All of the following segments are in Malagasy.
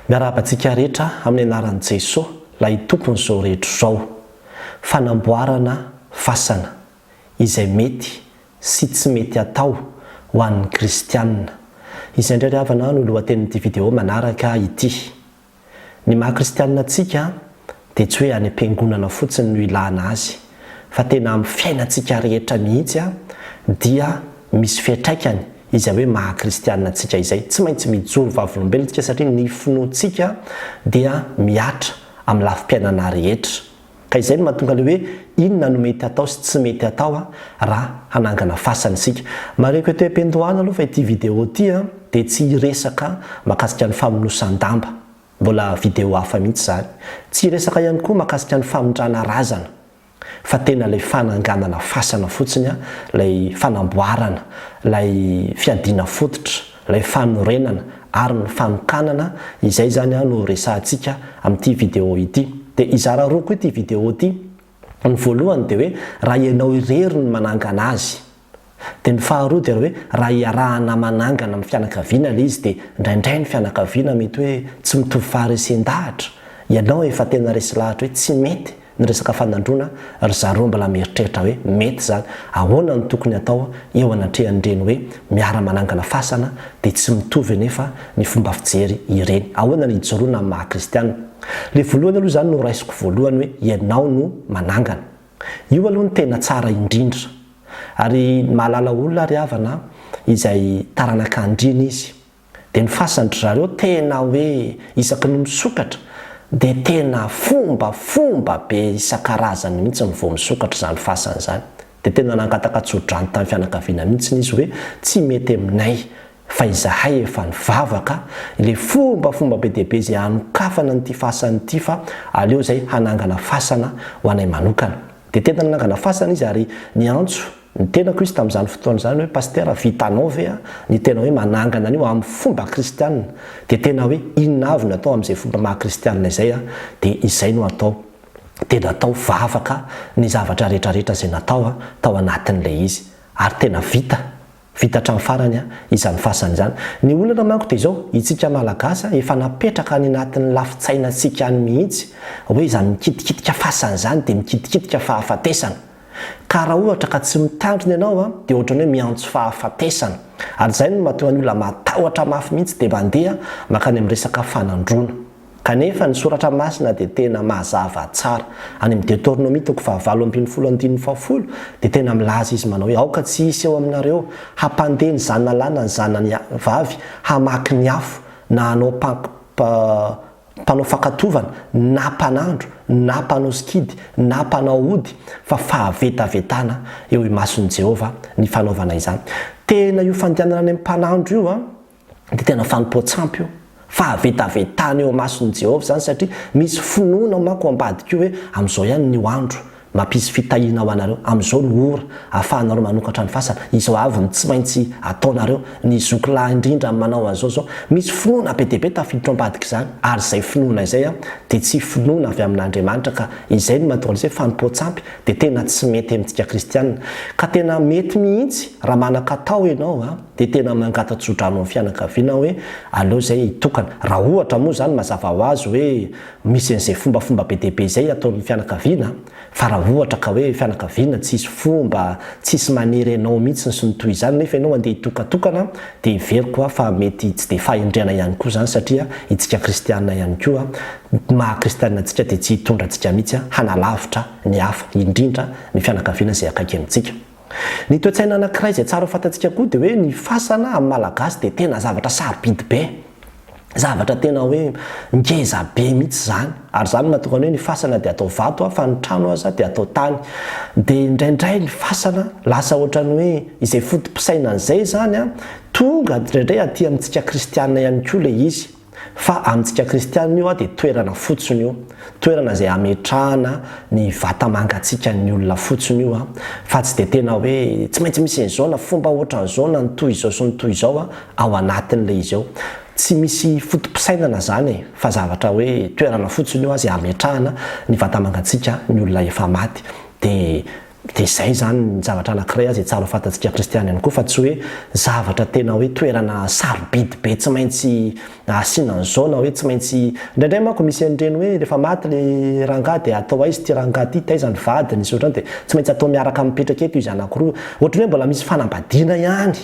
Miarahaba antsika rehetra amin'ny anaran'i Jesoa ilay Tompon'izao rehetra izao. Fanamboarana fasana izay mety sy tsy mety atao ho an'ny kristiana. Izay indray ry havana no lohatenin'ity video manaraka ity. Ny maha kristiana antsika dia tsy hoe any am-piangonana fotsiny no ilana azy fa tena amin'ny fiainantsika rehetra mihitsy dia misy fiatraikany izay hoe maha kristianina antsika izay. Tsy maintsy mijoro vavolombelona isika satria ny finoantsika dia mihatra amin'ny lafim-piainana rehetra. Ka izay no mahatonga ilay hoe inona no mety atao sy tsy mety atao raha hanangana fasana isika. Marihiko ety am-piandohana aloha fa ity video ity dia tsy hiresaka mahakasika ny famonosan-damba. Mbola video hafa mihitsy zany. Tsy hiresaka ihany koa makasika ny famindrana razana fa tena ilay fananganana fasana fotsiny an, ilay fanamboarana, ilay fiadiana fototra, ilay fanorenana ary ny fanokanana, izay zany an no resahantsika amin'ity video ity. Dia hizara roa koa ity video ity. Ny voalohany dia hoe raha ianao irery no manangana azy. Dia ny faharoa dia hoe raha iarahana manangana amin'ny fianakaviana ilay izy dia indraindray ny fianakaviana mety hoe tsy mitovy faharesen-dahatra, ianao efa tena resy lahatra hoe tsy mety ny resaka fanandroana, ry zareo mbola mieritreritra hoe mety izany. Ahoana no tokony atao eo anatrehan'ireny hoe miara-manangana fasana dia tsy mitovy anefa ny fomba fijery ireny? Ahoana ny hijoroana amin'ny maha-kristiana? Le volohany aloha izany no raisiko voalohany hoe ianao no manangana. Io aloha no tena tsara indrindra. Ary ny mahalala olona ry havana an, izay taranaka andriana izy. Dia ny fasany ry zareo tena hoe isaky ny misokatra dia tena fomba fomba be isan-karazany mihitsy ny vao misokatra izany fasany izany. Dia tena nangataka tso-drano tamin'ny fianakaviana mihitsy izy hoe tsy mety aminay fa izahay efa nivavaka le fombafomba be dia be izay hanokafana an'ity fasana ity fa aleo izay hanangana fasana ho anay manokana. Dia tena nanangana fasana izy ary niantso ny tenako izy tamin'izany fotoana izany hoe Pasitera vitanao ve ny tena hoe manangana an'io amin'ny fomba kristianina? Dia tena hoe inona avy no atao amin'izay fomba maha kristianina izay an? Dia izay no atao. Dia natao vavaka ny zavatra rehetra rehetra izay natao tao anatin'ilay izy ary tena vita. Vita hatramin'ny farany izany fasana izany. Ny olana manko dia izao, itsika Malagasy efa napetraka any anatin'ny lafintsainantsika any mihitsy hoe izany mikitikitika fasana izany dia mikitikitika fahafatesana. Ka raha ohatra ka tsy mitandrina ianao dia ohatrany hoe miantso fahafatesana. Ary izay no mahatonga ny olona matahotra mafy mihitsy dia mandeha mankany amin'ny resaka fanandroana. Kanefa, ny Soratra Masina dia tena mazava tsara. Any amin'ny Detornomia toko fahavalo ambin'ny folo andininy fahafolo, dia tena milaza Izy manao hoe, Aoka tsy hisy eo aminareo hampandeha ny zanalana ny zanany vavy hamaky ny afo, na hanao mpanao fankatovana, na mpanandro, na mpanao sikidy, na mpanao ody, fa fahavetavetana eo imason'i Jehovah ny fanaovana izany. Tena io fandehanana any amin'ny mpanandro io an! dia tena fanompoan-tsampy io, fahavetavetana eo imason'i Jehovah izany, satria misy finoana manko ao ambadika io hoe amin'izao ihany ny andro, mampisy fitahiana ho anareo, amin'izao ny ora ahafahanareo manokatra ny fasana, izao avy ny tsy maintsy ataonareo, ny zoky lahy indrindra no manao an'izao izao. Misy finoana be dia be tafiditra ao ambadik'izany, ary izay finoana izay dia tsy finoana avy amin'Andriamanitra, ka izay no mahatonga an'izay fanompoan-tsampy dia tena tsy mety amintsika kristiana. Ka tena mety mihitsy raha manan-katao ianao. dia tena mangata-tso-drano amin'ny fianakaviana aho hoe aleo izay hitokana. Raha ohatra moa izany mazava ho azy hoe misy an'izay fombafomba be dia be izay ataon'ny fianakaviana, fa raha ohatra ka hoe fianakaviana tsisy fomba, tsisy maniry anao mihitsy sy ny toy izany nefa ianao andeha hitokatokana dia heveriko aho fa mety tsy dia fahendrena ihany koa izany satria isika kristiana ihany koa ny maha kristiana antsika dia tsy hitondra antsika mihitsy hanalavitra ny hafa, indrindra ny fianakaviana izay akaiky amintsika. Ny toe-tsaina anankiray izay tsara ho fantatsika koa dia hoe ny fasana amin'ny Malagasy dia tena zavatra sarobidy be. Zavatra tena hoe ngeza be mihitsy izany. Ary izany no mahatonga ny hoe ny fasana dia atao vato fa ny trano aza dia atao tany. Dia indraindray ny fasana lasa ohatran'ny hoe izay foto-pisainana izay izany an, tonga indraindray aty amintsika kristiana ihany koa ilay izy. Fa amintsika kristianina io dia toerana fotsiny io, toerana izay ametrahana ny vata-mangatsiakan'ny olona fotsiny io, fa tsy dia tena hoe tsy maintsy misy an'izao na fomba ohatran'izao na ny toy izao sy ny toy izao ao anatin'ilay izy ao. Tsy misy foto-pisainana izany e, fa zavatra hoe toerana fotsiny io izay ametrahana ny vata-mangatsiakan'ny olona efa maty. Dia Dia izay izany ny zavatra anankiray izay tsara fantantsika kristiana ihany koa fa tsy hoe zavatra tena hoe toerana sarobidy be tsy maintsy asiana an'izao na hoe tsy maintsy indraindray manko misy an'ireny hoe rehefa maty ilay rangahy dia atao aiza ity rangahy ity, taiza ny vadiny sy ohatr'izany dia tsy maintsy atao miaraka mipetraka eto izy anankiroa. Ohatran'ny hoe mbola misy fanambadiana ihany.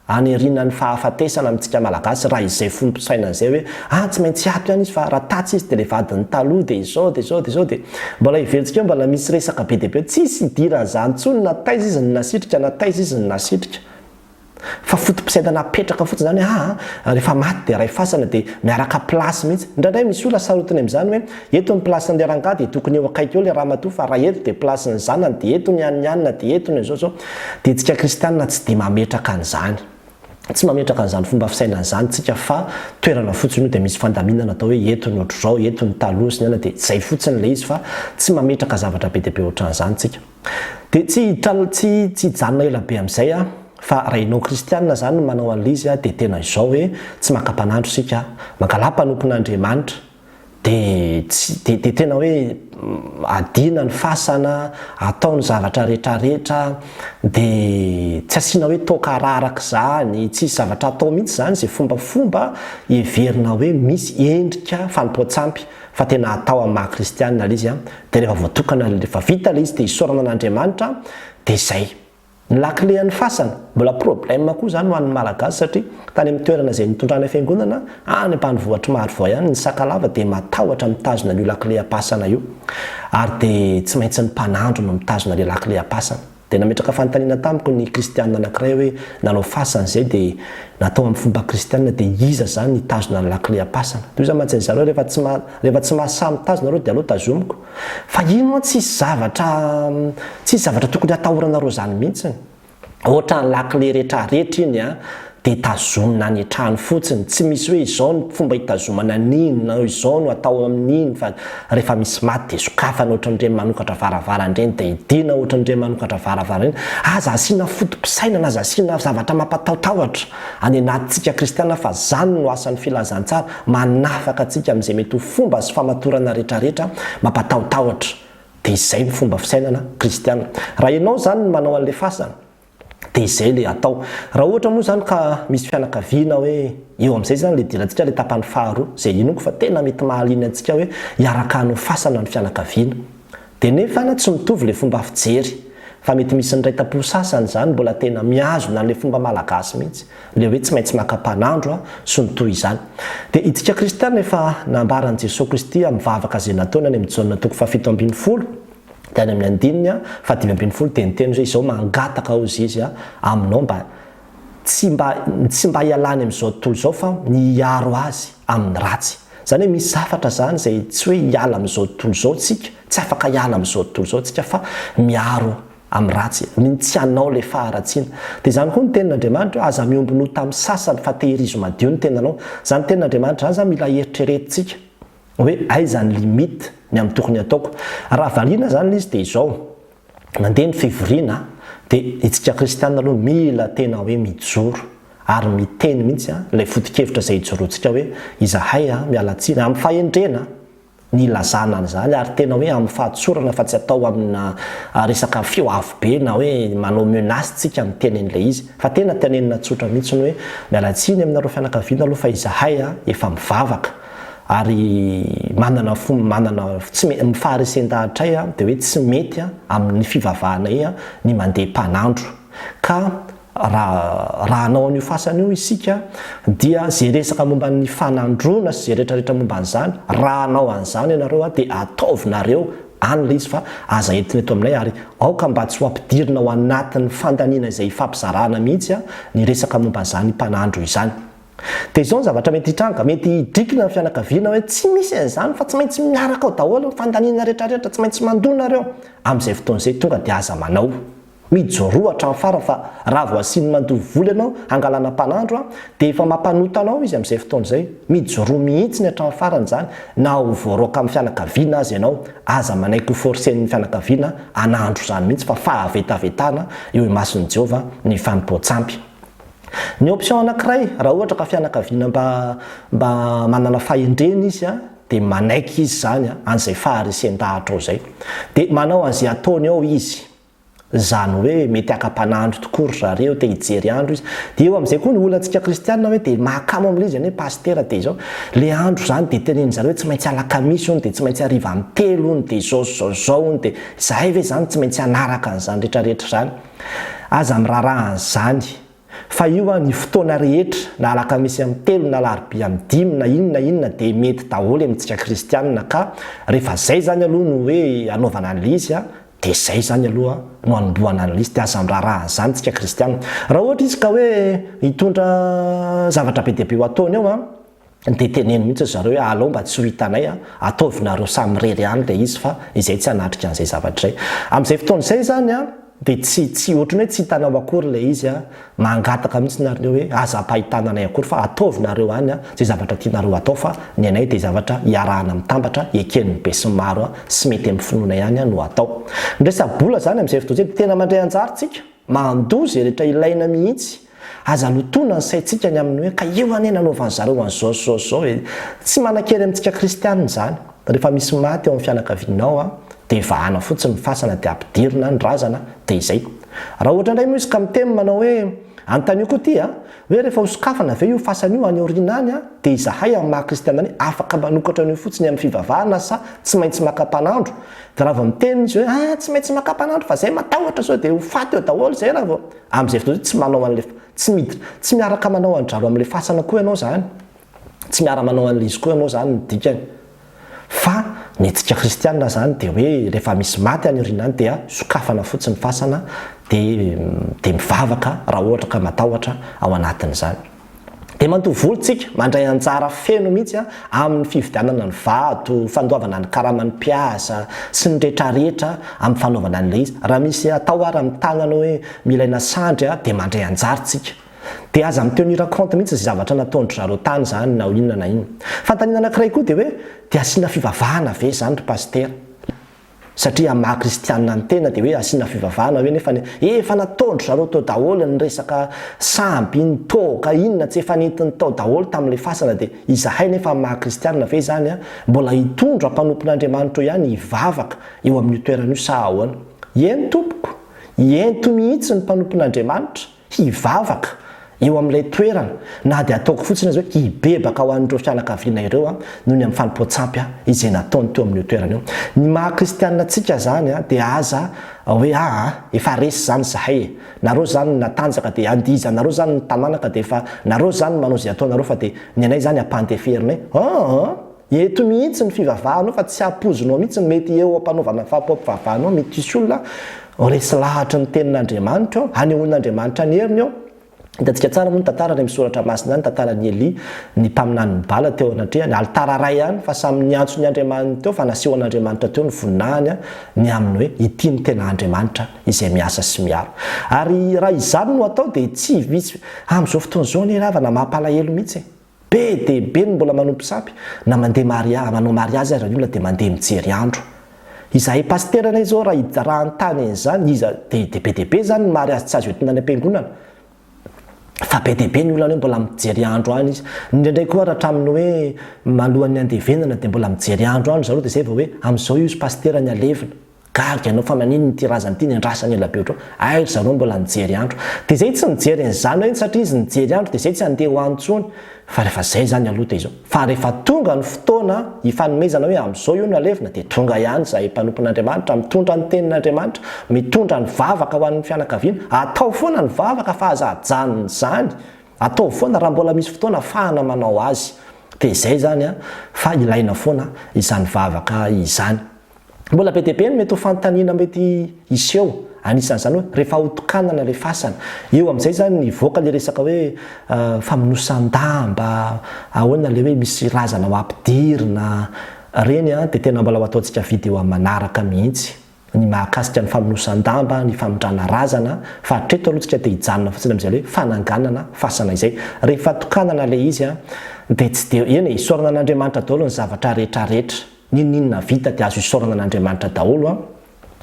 Hanerinan'ny fahafatesana amintsika Malagasy raha izay foto-pisainana izay hoe ah tsy maintsy hiato ihany izy fa raha tatsy izy dia ilay vadin'ny taloha dia izao dia izao dia izao dia mbola heverintsika hoe mbola misy resaka be dia be eo. Tsisy hidiran'izany intsony na taiza izy no nasitrika na taiza izy no nasitrika fa foto-pisainana apetraka fotsiny izany hoe ah rehefa maty dia ray fasana dia miaraka place mihitsy. Indraindray misy olona sarotiny amin'izany hoe Eto ny place n'le rangah dia tokony eo akaiky eo le ramatoa fa raha eto dia place ny zanany dia eto ny an'ny anina dia eto ny zao zao dia tsika kristianina tsy dia mametraka an'izany tsy mametraka an'izany fomba fisainana izany tsika fa toerana fotsiny io dia misy fandaminana atao hoe eto ny otrzao eto ny taloha sy ny anona dia zay fotsiny le izy fa tsy mametraka zavatra be dia be otran'izany tsika dia tsy hiditra tsy tsy hijanona ela be amin'izay a fa raha enao kristianina zany no manao an'le izy a dia tena izao hoe tsy maka mpanandro sika a mangalà mpanompon'Andriamanitra dia tsy dia dia tena hoe adina ny fasana, atao ny zavatra rehetra rehetra, dia tsy asiana hoe toaka araraka izany, tsisy zavatra atao mihitsy izany izay fomba fomba heverina hoe misy endrika fanompoan-tsampy fa tena atao amin'ny maha kristiana ilay izy an, dia rehefa voatokana ilay rehefa vita ilay izy dia isaorana an'Andriamanitra dia izay. Ny lakile an'ny fasana. Mbola problème koa izany ho an'ny Malagasy satria tany amin'ny toerana izay nitondrana fiangonana any ambanivohitr'i Marovoay any ny Sakalava dia matahotra mitazona an'io lakile am-pasana io ary dia tsy maintsy ny mpanandro no mitazona ilay lakile am-pasana. Dia nametraka fanontaniana tamiko ny kristianina anankiray hoe nanao fasana izay dia natao amin'ny fomba kristianina dia iza izany hitazona ny lakile am-pasana. Toy izany mantsy ry zareo rehefa tsy rehefa tsy mahasahy mitazona ireo dia aleo tazomiko. Fa iny moa tsisy zavatra tsisy zavatra tokony hatahoranareo zany mintsiny. Otrany lakile retraretra iny a de tazomina any trano fotsiny, tsy misy hoe izao no fomba hitazomana an'iny na izao no atao amin'iny fa refa misy maty de sokafana otran'ireny manokatra varavara ireny de idiana otran'ireny manokatra varavara ireny, aza asiana fotopisainana aza asiana zavatra mampatahotahotra any anatintsika kristiana fa zany no asan'ny filazantsara. Manafaka antsika amin'izay mety ho fomba sy famatorana rehetrarehetra mampatahotahotra. Dia izay no fomba fisainana kristiana. Raha ianao izany no manao an'ilay fasana, dia izay ilay atao. Raha ohatra moa izany ka misy fianakaviana hoe eo amin'izay izany ilay idirantsika ilay tapany faharoa, izay inoako fa tena mety mahaliana antsika hoe hiaraka hanao fasana ny fianakaviana. Dia nefa na tsy mitovy le fomba fijery, fa mety misy ny raitapo sasany zany mbola tena mihazona anle fomba malagasy mihitsy, le hoe tsy maintsy maka mpanandro a, sy ny toy izany. Dia itsika kristiana efa nambaran'i Jesoa Kristy amin'ny vavaka ze nataony any amin'ny Jaona toko fahafito ambin'ny folo, dia any amin'ny andininy a fahadimy ambin'ny folo dia niteny hoe izao mangataka ozy izy a, aminao mba tsy mba tsy mba hialany amin'izao tontolo izao fa ny hiaro azy amin'ny ratsy. Izany hoe misy zavatra izany izay tsy hoe hiala amin'izao tontolo izao tsika, tsy afaka hiala amin'izao tontolo izao tsika fa miaro amin'ny ratsy, ny tsy hanao ilay faharatsiana. Dia izany koa ny tenin'Andriamanitra hoe aza miombona ho tamin'ny sasany fa tehirizo madio ny tenanao. Izany tenin'Andriamanitra izany izany mila heritreretintsika hoe aiza ny limite ny amin'ny tokony hataoko. Raha valiana izany ilay izy dia izao. Nandeha ny fivoriana dia itsika kristiana aloha mila tena hoe mijoro ary miteny mihitsy ilay foto-kevitra izay ijoroantsika hoe izahay miala tsiny amin'ny fahendrena ny ilazana an'izany ary tena hoe amin'ny fahatsorana fa tsy atao amina resaka feo avo be na hoe manao menace tsika miteny an'ilay izy fa tena tenenina tsotra mihitsy ny hoe miala tsiny aminareo fianakaviana aloha fa izahay efa mivavaka ary manana fo manana tsy me ny faharesen-dahatray a de hoe tsy mety a amin'ny fivavahanay a ny mandeha mpanandro ka raha raha hanao an'io fasana io isika dia ze resaka momba ny fanandroana sy ze rehetra rehetra momba an'izany raha hanao an'izany ianareo a de ataovinareo any le izy fa aza entina eto aminay ary aoka mba tsy ho ampidirina ao anatin'ny fandaniana izay ifampizarana mihitsy a ny resaka momba izany mpanandro izany. Dia izao ny zavatra mety hitranga, mety hidrikina ny fianakaviana hoe tsy misy an'izany fa tsy maintsy miaraka ao daholo ny fandaniana rehetrarehetra, tsy maintsy mandoa nareo amin'izay fotoana izay, tonga dia aza manao mijoroa hatramin'ny farany fa raha vao asiany mandoa vola ianao hangalana mpanandro an, dia efa mampanota anao izy amin'izay fotoana izay, mijoroa mihitsy ny hatramin'ny farany izany na ho voaraoka amin'ny fianakaviana aza ianao, aza manaiky ho forcen'ny fianakaviana hanandro izany mihitsy fa fahavetavetana eo imason'i Jehovah ny fanompoan-tsampy. Ny option anankiray, raha ohatra ka fianakaviana mba mba manana fahendrena izy dia manaiky izy izany an'izay faharesen-dahatra ao izay. Dia manao an'izay ataony ao izy. Izany hoe mety haka mpanandro tokoa ry zareo, te hijery andro izy. Dia eo amin'izay koa ny olantsika kristiana hoe dia mahakamo amin'ilay izy anie pasitera dia izao. Ilay andro izany dia teneniny zareo hoe tsy maintsy alakamisy hono dia tsy maintsy hariva amin'ny telo hono dia izao sy izao sy izao hono dia izahay ve izany tsy maintsy hanaraka an'izany rehetra rehetra izany. Aza miraharaha an'izany. Fa io an, ny fotoana rehetra, na alakamisy amin'ny telo na alarobia amin'ny dimy na inona na inona dia mety daholo amintsika kristianina ka, rehefa izay izany aloha no hoe anaovana an'ilay izy an, dia izay izany aloha no anombohana an'ilay izy dia aza miraharaha an'izany tsika kristianina. Raha ohatra izy ka hoe hitondra zavatra be dia be ho ataony ao an, dia teneno mihitsy ry zareo hoe alao mba tsy ho hitanay an, ataovinareo samirery ihany ilay izy fa izay tsy hanatrika an'izay zavatra izay. Amin'izay fotoana izay izany an, dia tsy, tsy, ohatran'ny hoe tsy hitanao akory ilay izy an, mangataka mihitsy nareo hoe aza ampahitana anay akory fa ataovinareo any an, izay zavatra tianareo hatao fa ny anay dia zavatra iarahana mitambatra, eken'ny besinimaro an, sy mety amin'ny finoana ihany an no atao. Ny resa-bola izany amin'izay fotoana izay dia tena mandray anjara isika, mandoa izay rehetra ilaina mihitsy, Aza lotoina ny saintsika ny amin'ny hoe ka eo anie nanaovan'ny zareo an'izao sy izao sy izao e! Tsy manan-kery amintsika kristianina izany. Rehefa misy maty ao amin'ny fianakavianao dia vahana fotsiny ny fasana dia ampidirina ny razana dia izay. Raha ohatra indray moa izy ka miteny manao hoe antanio koa ity a! hoe rehefa hosokafana ve io fasana io any aoriana any a! dia izahay amin'ny maha kristianina anay afaka manokatra an'io fotsiny amin'ny fivavahana sa tsy maintsy maka mpanandro? Dia raha vao miteny izy hoe ah tsy maintsy maka mpanandro fa izay matahotra sao dia ho faty eo daholo izay raha vao Amin'izay fotoana izay tsy manao an'ilay, tsy miditra, tsy miaraka manao an-dRalo amin'ilay fasana koa ianao izany, tsy miara-manao an'ilay izy koa ianao izany ny dikany. Fa ny hetsika kristiana izany dia hoe rehefa misy maty any aoriana any dia sokafana fotsiny ny fasana dia dia mivavaka raha ohatra ka matahotra ao anatin'izany. Dia matoa voly tsika mandray anjara feno mihitsy amin'ny fividianana ny vato, fandoavana ny karaman'ny mpiasa sy ny retraretra amin'ny fanaovana an'ilay izy. Raha misy atao ary amin'ny tagnana hoe milaina sandry dia mandray anjara tsika. Dia aza mi tenir compte mihitsy izay zavatra nataondry zareo tany izany na inona na inona. Fanontaniana anakiray koa dia hoe dia asiana fivavahana ve izany ry Pasitera? Satria amin'ny maha kristianina ny tena dia hoe asiana fivavahana hoe nefa efa nataon-dry zareo teo daholo ny resaka sambo iny toaka iny na tsy efa nentiny tao daholo tamin'ilay fasana dia izahay nefa amin'ny maha kristianina ve izany an mbola hitondra mpanompon'Andriamanitro ihany hivavaka eo amin'io toerana io sa ahoana? Eny tompoko! Ento mihitsy ny mpanompon'Andriamanitra! hivavaka eo amin'ilay toerana na dia ataoko fotsiny aza hoe hibebaka ho an'ireo fianakaviana ireo aho noho ny amin'ny fanompoan-tsampy izay nataony teo amin'io toerana io. Ny maha kristianina antsika izany dia aza hoe aa efa resy izany izahay e! nareo izany natanjaka dia andihizanareo izany ny tamanaka dia efa nareo izany manao izay ataonareo fa dia ny anay izany ampandeferinay? aa! Eto mihitsy ny fivavahanao fa tsy ampoizinao mihitsy ny mety eo ampanaovana ny fahapoampivavahanao mety hisy olona resy lahatry ny tenin'Andriamanitra ao, hanehoan'Andriamanitra ny heriny ao, hitantsika tsara moa ny tantara any amin'ny soratra masina any, tantaran'i Elia, ny mpaminanin'i Bala teo anatrehany, alitara iray ihany fa samy niantso ny andriamaniny teo fa nasehon'Andriamanitra teo ny voninahiny ny amin'ny hoe ity no tena Andriamanitra izay miasa sy miaro. Ary raha izany no atao dia tsy hisy amin'izao fotoana izao anie ravana mampalahelo mihitsy e! Be dia be ny mbola manompo sampy na mandeha maria, manao mariazy aza ny olona dia mandeha mijery andro. Izahay pasitera anie izao raha raha hanontany an'izany iza dia dia be dia be izany ny mariazy tsy azo entina any am-piangonana fa be dia be ny olona hoe mbola mijery andro any izy. Indraindray koa ary hatramin'ny hoe malohan'ny handevenana dia mbola mijery andro any ry zareo dia izay vao hoe amin'izao io izy pasitera ny halevina. Gaga ianao fa maninona ity razana ity niandrasany ela be otrao? Hay ry zareo mbola nijery andro. Dia izay tsy nijery ny zanany satria izy nijery andro dia izay tsy handeha ho any intsony. Fa rehefa izay izany aloha dia izao. Fa rehefa tonga ny fotoana hifanomezana hoe amin'izao io no halevina dia tonga ihany izahay mpanompon'Andriamanitra mitondra ny tenin'Andriamanitra, mitondra ny vavaka ho an'ny fianakaviana. Atao foana ny vavaka fa aza ajanona izany. Ataovy foana raha mbola misy fotoana afahana manao azy. Dia izay izany an! Fa ilaina foana izany vavaka izany. Mbola be dia be ny mety ho fanontaniana mety hiseho, anisan'izany hoe rehefa ho tokanana ilay fasana. Eo amin'izay izany hivoaka ilay resaka hoe famonosan-damba, ahoana ilay hoe misy razana ho ampidirina. Ireny dia tena mbola ho ataontsika video amin'ny manaraka mihitsy, ny mahakasika ny famonosan-damba, ny famindrana razana, fa hatreto aloha isika te hijanona fotsiny amin'izay hoe fananganana fasana izay. Rehefa tokanana ilay izy dia tsy dia, eny e, isaorana an'Andriamanitra daholo ny zavatra rehetrarehetra. N'inon'inona vita dia azo isaorana an'Andriamanitra daholo an!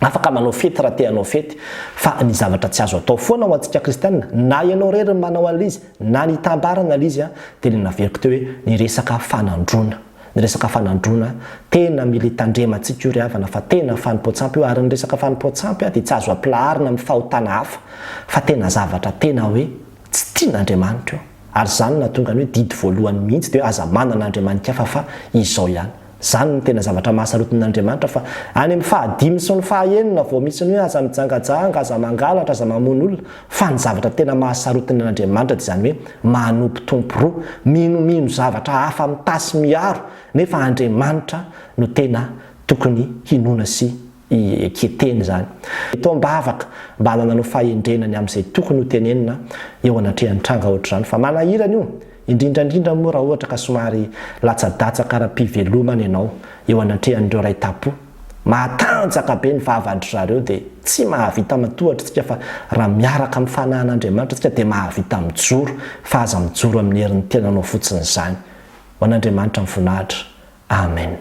Afaka manao fety raha te hanao fety, fa ny zavatra tsy azo atao foana ho antsika kristianina, na ianao irery no manao an'l'izy, na ny hitambara an'l'izy an, dia ilay naveriko teo hoe ny resaka fanandroana. Ny resaka fanandroana, tena mila hitandrema antsika io ry havana fa tena fanompoan-tsampy io, ary ny resaka fanompoan-tsampy an, dia tsy azo ampilaharina amin'ny fahotana hafa, fa tena zavatra tena hoe tsy tian'Andriamanitra io. Ary izany no nahatonga ny hoe didy voalohany mihitsy dia hoe aza manana andriamanin-kafa fa izao ihany. Izany no tena zavatra maha sarotiny an'Andriamanitra fa any amin'ny fahadimy sy ny fahaenina vao misy ny hoe aza mijangajanga, aza mangalatra, aza mamono olona. Fa ny zavatra tena maha sarotiny an'Andriamanitra dia izany hoe manompo tompo roa, minomino zavatra hafa mitaha sy miaro nefa Andriamanitra no tena tokony hinoana sy i Eketeny izany. Eto aho mivavaka mba hanananao fahendrena ny amin'izay tokony ho tenenina eo anatrehan'ny tranga ohatr'izany fa manahirana io, indrindra indrindra moa raha ohatra ka somary latsadatsaka ara-pivelomana ianao eo anatrehan'ireo raitap-po. Matanjaka be ny vavan-dry zareo dia tsy mahavita matohatra isika fa raha miaraka amin'ny fanahan'Andriamanitra isika dia mahavita mijoro fa aza mijoro amin'ny herin'ny tenanao fotsiny izany. Ho an'Andriamanitra ny voninahitra. Amen.